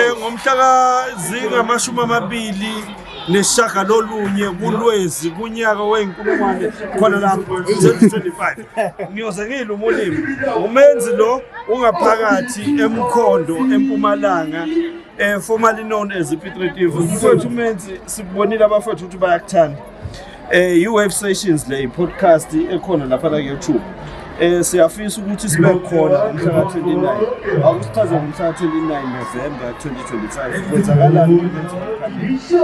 Ngomhla kazingamashumi amabili nesishagalolunye kulwezi kunyaka weyinkulungwane khona lapho 2025 ngiyoze ngiyile umulimi umenzi lo ungaphakathi emkhondo empumalanga eh formerly known as ipitretivu mfowethu umenzi sibonile abafowethu ukuthi bayakuthanda Eh i-Wave Sessions le podcast ekhona lapha la YouTube. Eh siyafisa ukuthi sibe khona umhla ka-29. Akusichaze ngomhla ka-29 November 2025. Kwenzakalani ukuthi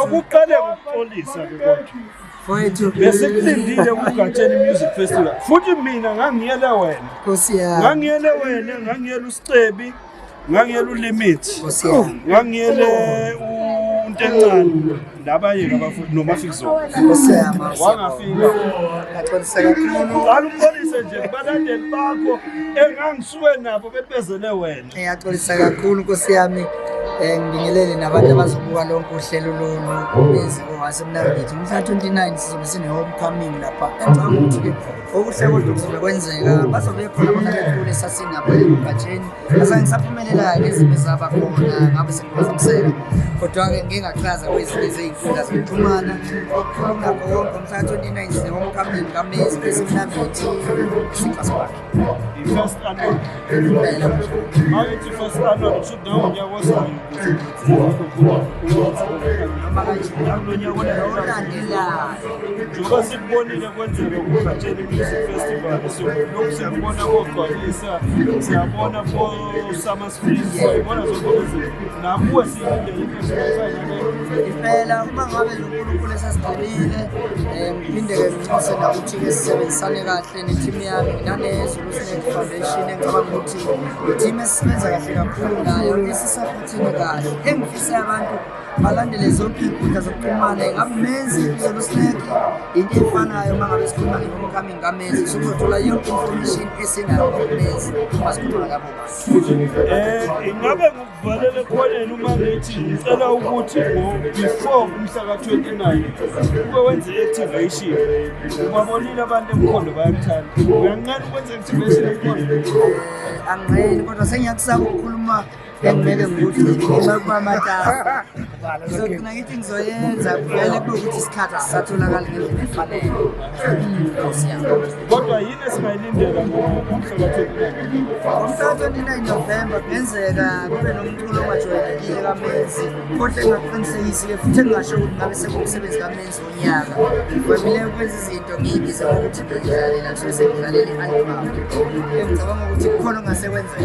akuqale ukuxolisa ke kodwa. Besikulindile kuGatsheni Music Festival. Futhi mina ngangiyele wena. Nkosi yami. Ngangiyele wena, ngangiyele uScebi. ngangiyele ulimit ngangiyele umuntu encane labayeka abafundi nomafizo wangafika qala umbonise nje kubalandeli bakho engangisuke nabo bebezele wena ngiyaxolisa kakhulu nkosi yami Eh, ngibingelele nabantu abazobuka lonke uhlelo lolu obezi owasemnambithi mhla 29 sizobe sine-homecoming lapha ngicabanga ukuthi-ke okuhle kodwa okusuke kwenzeka bazobe khona bona bethule sasinabo emgatsheni ase ngisaphumelelayo ezinto ezaba khona ngabe sengiphazamiseka kodwa-ke ngingachaza kwezinye zeyinkundla zokuxhumana okukhona konke umhla 29 womkamlini kamezi besimnamithi isixhaso wakhe impela njengoba sikubonile kwenzeka kugatsheni music festival siyoku siyakubona kogcwalisa siyabona kosama sfis siyayibona zokuze nakuwe siyindeimpela uma ngabe nonkulunkulu esesigqibile um ngiphinde-ke nginxuse nakuthi-ke sisebenzisane kahle nethimu yami nginanezulu sinet foundation engicabanga ukuthi ithimu esisebenza kahle kakhulu nayo Thina kahle engifise abantu balandele zonke iy'nkundla zokuxhumana ingabe menzi yena usineke yinto efanayo uma ngabe sikhuluma nge-homecoming kamenzi sokuzothola yonke information esinayo ngokumenzi uma sikhuluma ngabo um ingabe ngikuvalele ekhoneni uma ngithi ngicela ukuthi before umhla ka-29 ube wenze i-activation ubabonile abantu emkhondo bayakuthanda uyanqena ukwenza i-activation emkhondo angiqeni kodwa sengiyakusaba ukukhuluma Bengimele ngokuthi ngigxuma kuba matasa. So mina ngithi ngizoyenza vele kube ukuthi isikhathi asisatholakali ngendlela efanele. Nkosi yami. Kodwa yini esingayilindela ngomhla-29 November kungenzeka kube nomculo ongajwayelekile kamenzi kodwa engaqinisekisile futhi engingasho ukuthi ngabe sekuwumsebenzi kamenzi wonyaka. Ngivamile ukwenza izinto ngiyibiza ngokuthi ngidlalela ngisuke sengidlalela i-album. Ngicabanga ukuthi kukhona ongase kwenzeka.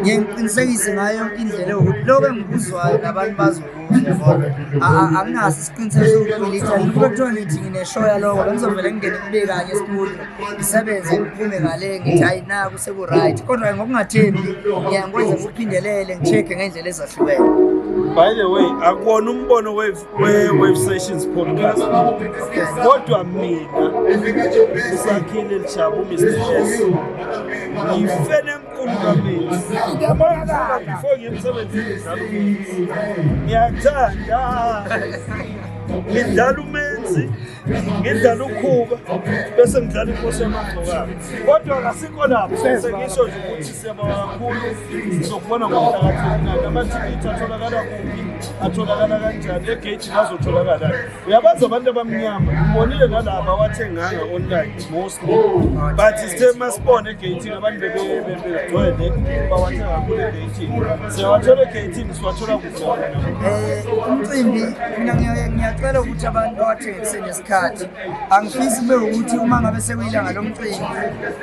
ngiye ngiqinisekise ngayo yonke indlela yokuthi lokho engikuzwayo nabantu bazokuzwa ngoba anginaso isiqiniseko sokuthi ngilitha kube kuthiwa ngithi ngineshow yaloko bengizovele ngingene kube kanye esikhulu ngisebenze ngiphume ngale ngithi hayi naku seku-right kodwa ngokungathembi ngiya ngikwenze ngikuphindelele ngi-check-e ngendlela ezahlukene by the way akuwona umbono we-wave sessions podcast kodwa mina usakhile lijabu mr s ngifene ngiyakuthanda ngidlala umenzi ngidlala ukhuba bese ngidlala inkosi yamagcokana kodwa kasikho lapho sengisho nje ukuthi siyaba kakhulu sizokubona ngokuhlakathelinayo amathikithi atholakala kuphi atholakala kanjani egeyithini azotholakala uyabazi abantu abamnyama ngibonile nalaba wathenganga online mostly but sithe masibone egatini abantu bebegcwele bawathenga kule gatini siyawathole egatini siwathola kuzona eh, umcimbi mina ngiyacela ukuthi abantu bawathenge kusenesikhathi angifisi kube ukuthi uma ngabe sekuyilanga lomcimbi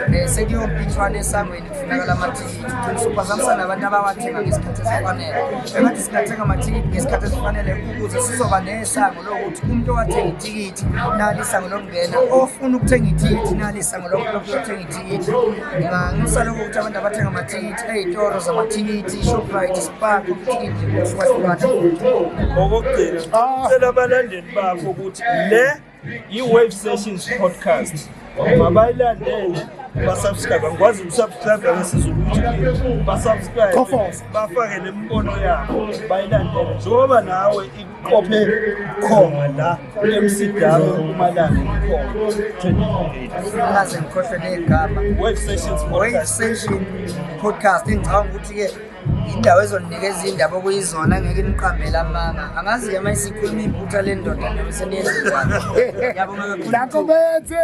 um eh, sekuyompithwana esangweni Kufunakala amathikithi uqinisa uphazamisa nabantu abawathenga ngesikhathi esifanele engathi singathenga amathikithi ngesikhathi esifanele ukuze sizoba nesango lokuthi umuntu owathenga ithikithi nali isango lokungena ofuna ukuthenga ithikithi nali isango lokuthenga ithikithi nganxusa lokho ukuthi abantu abathenga amathikithi ey'toro zamathikithi shoprite spark ithikithi ngokuhlukahluka okokugcina ah. cela abalandeli bakho ukuthi le i-wave sessions podcast mabayilandele basubscribe angikwazi ukusubscribe ngesizulu ukuthi basubscribe bafake nemibono yabo bayilandele njengoba nawe ikuqophe khona la emsidalo umalanga ikhona ngikhohlwe negama wave sessions podcast engicabanga ukuthi-ke indawo ezoninikeza indaba okuyizona ngeke niqambele amanga angazi yama isikhuluma iphutha lendoda nabo seniyenzekwayo yabo ngakho bethe